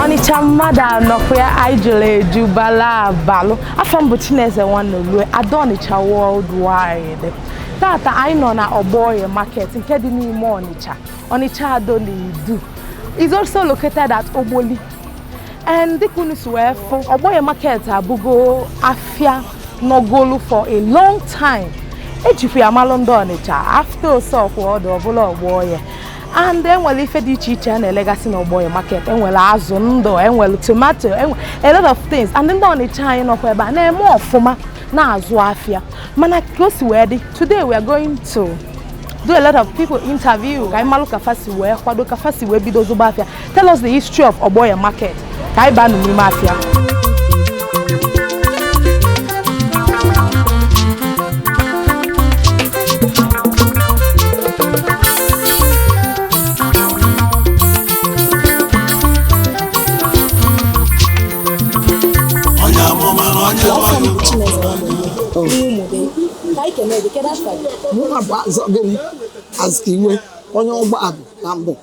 ọnịcha mmadụ anọkwa ya anyị jụrụ eju bala abalụ afa m bụ chineze nwanolue ada ọnịcha worldwide tata anyị nọ na ọgbọoye market nke dị n'ime ọnịcha ọnịcha ado na idu is also located at ogboli and dịka unu si wee fụ ọgbọoye market abụgo afịa nọgolu for a long time ejikwa ya malụ ndị ọnịcha after ose ọkwọdụ ọ bụlụ ọgbọoye and enwere ife dị iche iche a na-elegasị na ọgbọoye market enwere azụ ndụ enwere tomato enwe a lot of things and ndị ọnịcha anyị nọkwa ebe a na-eme ọfụma na-azụ afịa mana ka o si wee dị today we are going to do a lot of people interview ka anyị malụ ka fa si wee kwado ka fa si wee bido zụba afịa Tell us the history of Ọgbọoye market. Ka anyị baa n'ime afịa. onye amụma na onye mmadụ Mụ abụ azọ gịnị? Azụ iwe onye ọgba abụ na mbụ.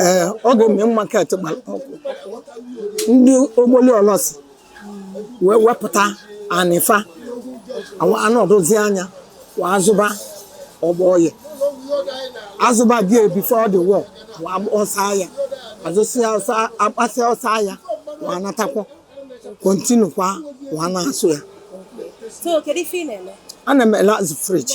ee oge main market gbara ọkụ ndị ogboli olosi wee wepụta anị fa anọdụzi anya wa azụba ọgbọoye azụba there before the war wa ọsọ aya azụsịa ọsọ agbasịa ọsọ aya wa anatakwa continue kwa wa na-azụ ya So, kedu ife ị na-eme? ana m ele azụ fridge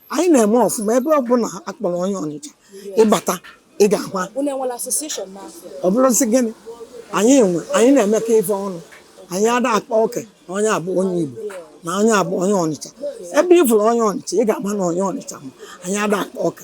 anyị na-eme ọfụma ebe ọbụla akpọrọ onye ọnịcha ị bata ị ga-ahụ a- Unu enwere association n'afịa? ọ bụrụ ị sị gịnị anyị nwe anyị na-emekọ ife ọnụ anyị ada akpa oke na onye a bụ onye igbo na onye a bụ onye ọnịcha ebe ị fụrụ onye ọnịcha ị ga-ama na onye ọnịcha ma anyị ada akpa oke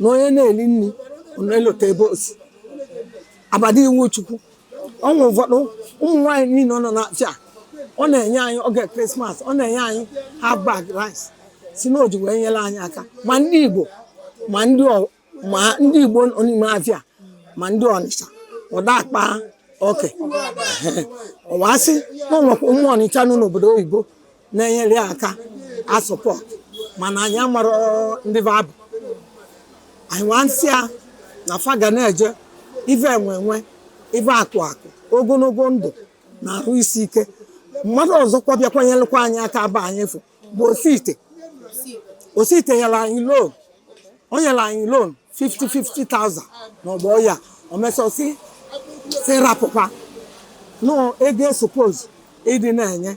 na onye na-eli nni na-elota ebe o si aba ada iwuchukwu ọnwa ụfọdụ ụmụ nwaanyị niile ọ nọ n'afịa ọ na-enye anyị oge krismas ọ na-enye anyị half bag rice sị na o ji wee nyere anyị aka ma ndị igbo ma ndị ọ- ma ndị igbo nọ n'ime afịa ma ndị ọnịcha ọ da akpa oke ọ wee sị na o nwekwa ụmụ ọnịcha nọ n'obodo oyibo na-enyere ya aka a support mana anyị amarọ ndị fa bụ anyị wee sị ya na fa ga na-eje ife enwe enwe ife akụ akụ ogologo ndụ na arụ isi ike mmadụ ọzọkwa bịakwa nyelụkwa anyị aka afa onye afụ bụ osite osite nyere anyị loan o nyere anyị loan 50 50,000 n'ọgbọ ya o mesịa sị rapụkwa na ọ ego e suppose ịdị na-enye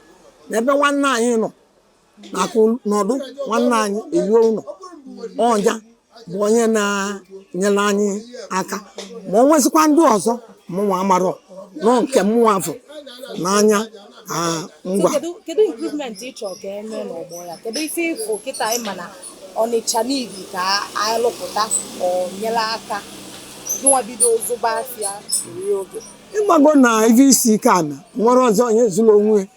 n'ebe nwanne anyị nọ nakụ nọdụ nwanne anyị eluo ụlọ ọ nya bụ onye na-enyere anyị aka ma o nwezikwa ndị ọzọ mụnwa amarọ na ọ nke mụnwa fụ n'anya ah, ngwa Kedu kedu improvement ị chọrọ ka e mee n'ọgbọ ya? Kedu ife ị fụ kịta ị ma na Ọnịcha need ka anyị lụpụta o nyelu aka gịnwa bido zụba afịa nri oge ị mago na ife isi ike a na nwere ọzọ onye zuru onwe ya.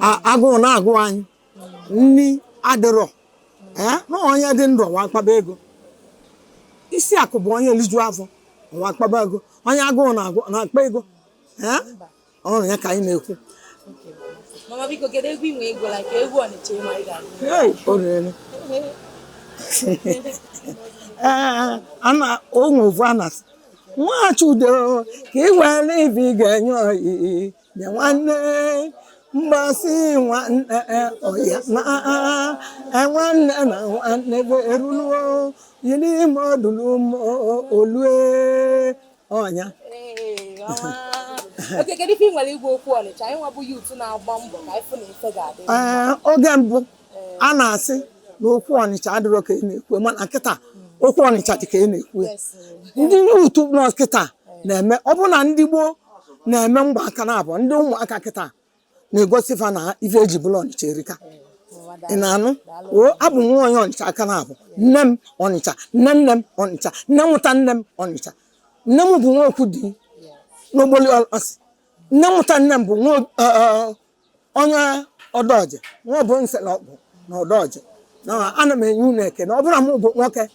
A- agụụ na-agụ anyị nri adịrọ ee na onye dị ndụ ọwa akpaba ego isi akụ bụ onye liju afọ ọwa akpaba ego onye agụụ na-agụ na-akpa ego ee ọrụ ya ka anyị na-ekwu mama biko kedu egwu i nwe egwu la ka egwu ọnịcha ị ma ị ga-agụ orere ee ana onwe ovu a na nwachi udo ka ị were ibe ị ga-enye oyi nye nwanne mgbasị nwanne ọya na nwanne na nwanne bụ eruluo yiri ime ọdụlụ olue ọ nya ee oge mbụ a na-asị na okwu ọnịcha adịrọ ka a na-ekwu mana kịta okwu ọnịcha dị ka a na-ekwu ya. ndị youth nọ kịta na-eme ọ bụ na ndị gboo na-eme mgba aka naabọ ndị ụmụaka kịta na-egosi fa na ife e ji bụrụ ọnịcha erika ị na-anụ o abụ m nwa onye ọnịcha aka naabọ nne m ọnịcha nne nne m ọnịcha nne mụta nne m ọnịcha nne m bụ nwa Okwudi n'Ogboli Olosi nne mụta nne m bụ nwa ob- ọ- ọ- onye Odoje nwa bụ nse na ọkpụ na Odoje na ana m enye unu ekene ọ bụrụ na mụ bụ nwoke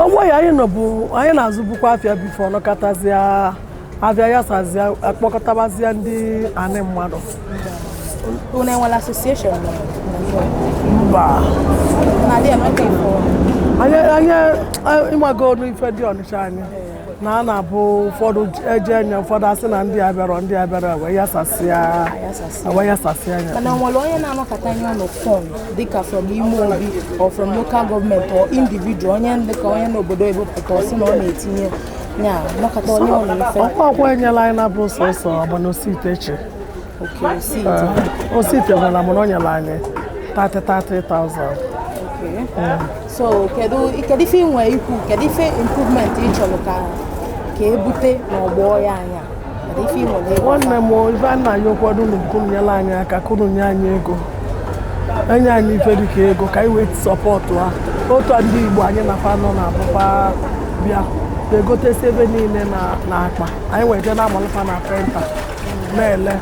ọgbọ ya anyị nọbu anyị na-azụbukwa afịa before ọ nọkatazịa afịa yasazịa a kpọkọtabazịa ndị anị mmadụ Unu enwere association na Nigeria? mba Na dị emeka ifo. anyị anyị ị mago ọnụ ife ndị ọnịcha anyị na a na-abụ ụfọdụ e je e nye ụfọdụ a sị na ndị abịarọ ndị abịarọ wee yasasịa wee yasasịa anyị mana e nwere onye na-anọkọta anyị ọnụ from dịka from ime obi or from local government or individual onye dịka onye n'obodo ebupụta ọ sị na ọ na-etinye ya nọkọta anyị ọnụ mfe ọkwa ọkwa enyela anyị na bụ sọsọ agbanosiiteche o sitewala m na o nyere anyị 30 30,000 so kedu kedu ife ị nwere ikwu kedu ife improvement ị chọrọ ka ka ebute n'Ogboye anya kedu ife ị nwere ịgwa nne m ife a na-ayọkwanụ unu bụ ka unu nyela anyị aka ka unu nye anyị ego e nye anyị ife dịka ego ka anyị wee support otu a ndị igbo anyị na fa nọ na-abụ fa bịa egotesi ife niile na na akpa anyị wee je na-amalụ fa na penta na-ele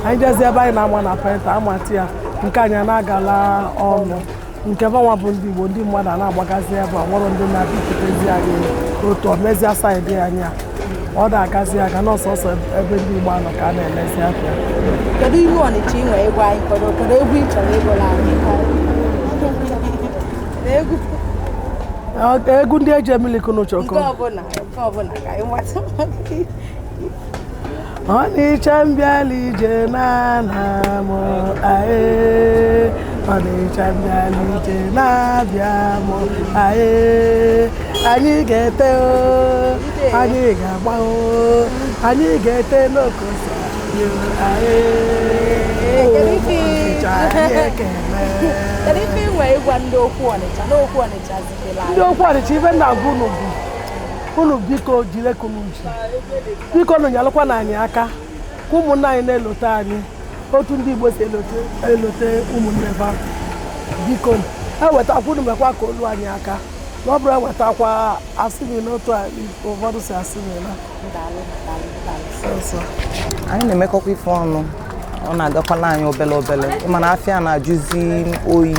anyị jezi ebe anyị na-ama na penta amati ya nke anyị na-agala ọnụ nke fanwa bụ ndị Igbo ndị mmadụ a na-agbagazi ebe a o nwerọ ndị na-abịakwutezi anyị otu ọ mezie side anyị a ọ da agazi aga na ọ sọsọ ebe ndị Igbo a nọ ka a na-elezi afịa kedu egwu ọnịcha ị nwere egwu anyị kọrọ kedu egwu ị chọrọ ịgụla anyị na egwu Ọ- egwu ndị eji emilikunụ nke chọkọ ọbụla nke ọbụla ka anyị nwata Ọnịcha mbịala ije na-ana m ae Ọnịcha mbịala ije na-abịa m ae anyị ga-ete o anyị ga-agba o anyị ga-ete n'okosi anyị ae Kedu ife- Ọnịcha anyị ekele Kedu ife ị nwere ịgwa ndị okwu Ọnịcha n'okwu Ọnịcha zitela anyị? ndị okwu ọnịcha ife m na-agwa unu bụ unu biko jili ka unu ji bikonụ nyelụkwanụ anyị aka ka ụmụnna anyị na-elote anyị otu ndị Igbo si elote elote ụmụnne fa biko e wetakwa unu mekwa ka o lu anyị aka na ọ bụrọ e wetakwa asị gị n'otu a ụfọdụ si asị gị na anyị na-emekọkwa ife ọnụ ọ na-agakwala anyị obele obele mana afịa na-ajụzi oyi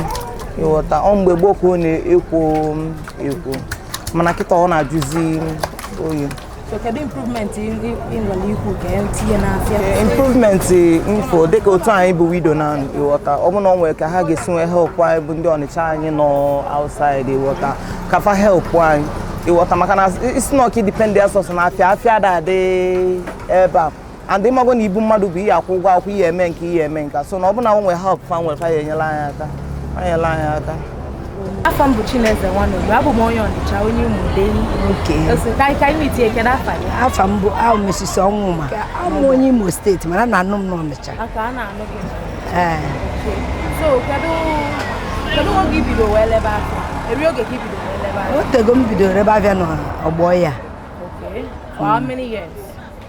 ịghọta ọ mgbe gboo ka ọ na-ekwo ekwo mana kịta ọ na-ajụzi oyi improvement ife dịka otu anyị bụ widow na ịghọta ọ bụrụ na ọ nwere ka ha ga-esi nwee help anyị bụ ndị ọnịcha anyị nọ outside ịghọta ka fa help anyị ịghọta maka na ị sị na ọ ka ị dependịa sọsọ na afịa afịa da adị ebe a and ịmago na ibu mmadụ bụ ị ya-akwụ ụgwọ akwụkwọ ị ya-eme nke a ị ya-eme nke a so na ọ bụ na e nwe help fa nwere fa ya-enyela anyị aka fa nyela anyị aka afa m bụ Chineze Nwanogbu abụ m onye Ọnịcha onye Umudei afa m bụ Mrs. Ọnwụma abụ m onye Imo State mana a na-anụ m n'Ọnịcha ee o tego m bido rebe afịa n'Ogboye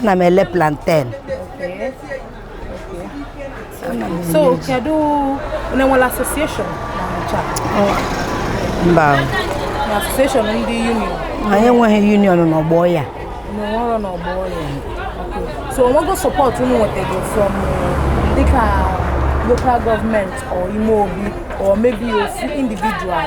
ana m ele plantain so kedu onye nwere association mba association ndị union anyị enweghị union n'ọgbọ ya n'ọrụ n'ọgbọ ya so o nwego support unu nwetago from dịka local government or ime obi or maybe ofu individual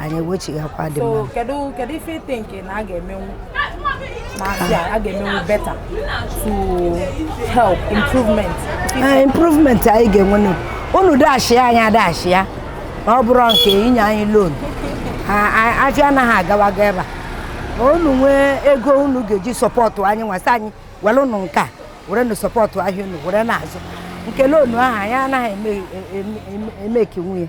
anyị ewechighakwa dị mma kedu kedu ife i think na a ga-emenwu n'afịa a ga-emenwu better to help improvement ah, improvement anyị ga-enwe unu dashi anyị adashi ya na ọ bụrọ nke inye anyị loan afịa anaghị agawa aga ebe a unu nwee ego unu ga-eji support anyị nwasị anyị were unu nke a were na support ahịa unu were na-azụ nke loan ahụ anyị anaghị emekinwu ya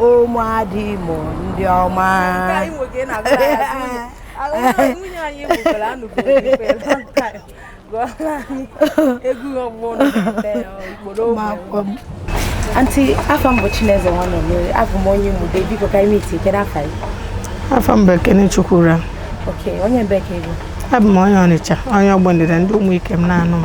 ụmụada imo ndị ọma anti afa m bụ chineze nwanne mmiri abụ m onye ụmụdei biko ka ime iti kedu afa gị afa m bụ ekene chukwura onye ebee ka ị bụ abụ m onye ọnịcha onye ogbe ndịda ndị ụmụikem na-anụ m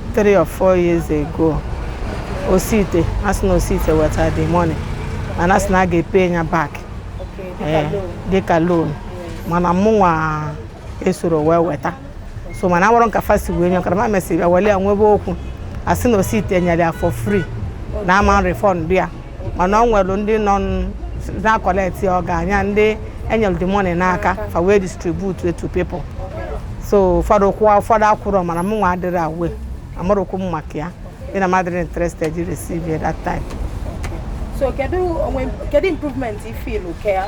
three or four years ago osite a sị na osite weta the money mana a sị na a ga-epe ya back ee, dịka loan mana mụnwa esoro wee weta so mana amarọ m ka fa si wee nye ọkara ma mesịrị bịa wele ya nwebe okwu a sị na osite nyere ya for free na a ma refund ya mana o nwere ndị nọ na-akọleti ọga anya ndị e nyere the money n'aka fa wee distribute it to people so ụfọdụ kwụọ ụfọdụ akwụrọ mana mụnwa adịrọ aware amarọkwu m maka ya dị na m adịrọ interested receive that time so kedu improvement ị fụlụ ka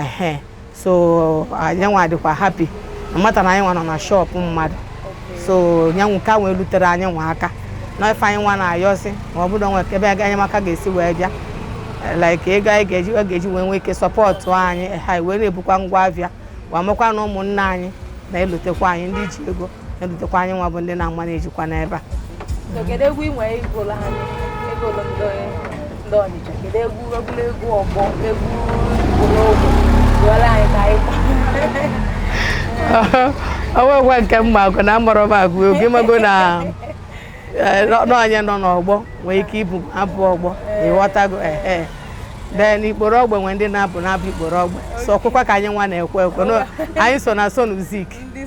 ehe so anyị nwa adịkwa happy a mata na anyị nwa nọ na shop mmadụ so nya bụ ka wee lutere anyị nwa aka na ife anyị nwa na-ayọzi ma ọ bụrụ nwe ebe enyemaka ga-esi wee bịa like ego anyị ga-eji ọ ga-eji wee nwee ike support anyị ha wee na-ebukwa ngwa afịa wee mekwa na ụmụnne anyị na-elotekwa anyị ndị ji ego elotekwa anyị nwa bụ ndị na-ama na-ejikwa n'ebe a kedu egwu ị nwere ịgụlụ anyị egwu ndị ndị ọnịcha kedu egwu egwuregwu ọgbọ egwu ikporo ogbe gụọlụ anyị ka anyị o nwekwa nke m ma agụ na amarọ m agụ egwu ị mago na eh, nọ- nọ onye nọ n'ọgbọ nwee ike ịbụ abụ ọgbọ ị ghọtago ehe then ikporo ogbe nwee ndị na-abụ na-abụ ikporo ogbe so okwukwe ka anyị nwa na-ekwe ekwe No, anyị so na so music ndị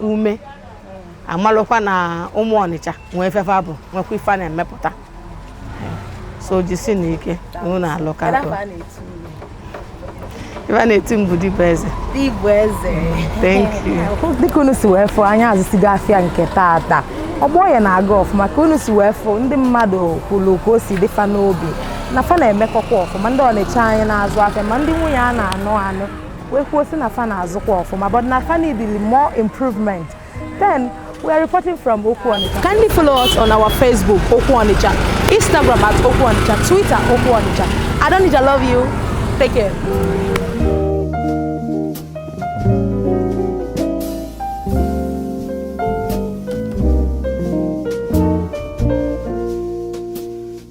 ume amalụkwa na ụmụ ọnịcha nwee ife fa bụ nwekwa ife fa na-emepụta so jisi nụ ike unu na-alụ ka atọ ife a na-eti mbụ dibụ eze Igbo eze thank you dịka unu si wee fụ anyị azụsigo afịa nke taata Ogbe Oye na-aga ọfụma ka unu si wee fụ ndị mmadụ kwulu ka o si dị fa n'obi na fa na-emekọkwa ọfụma ndị ọnịcha anyị na-azụ afịa ma ndị nwunye a na-anụ anụ wee kwuo si na fa na-azụkwa ọfụma but na fa needili more improvement then we are reporting from Okwu Onitsha. Kindly follow us on our Facebook Okwu Onitsha, Instagram at Okwu Onitsha, Twitter Okwu Onitsha. Ado n'Idu love you. Take care.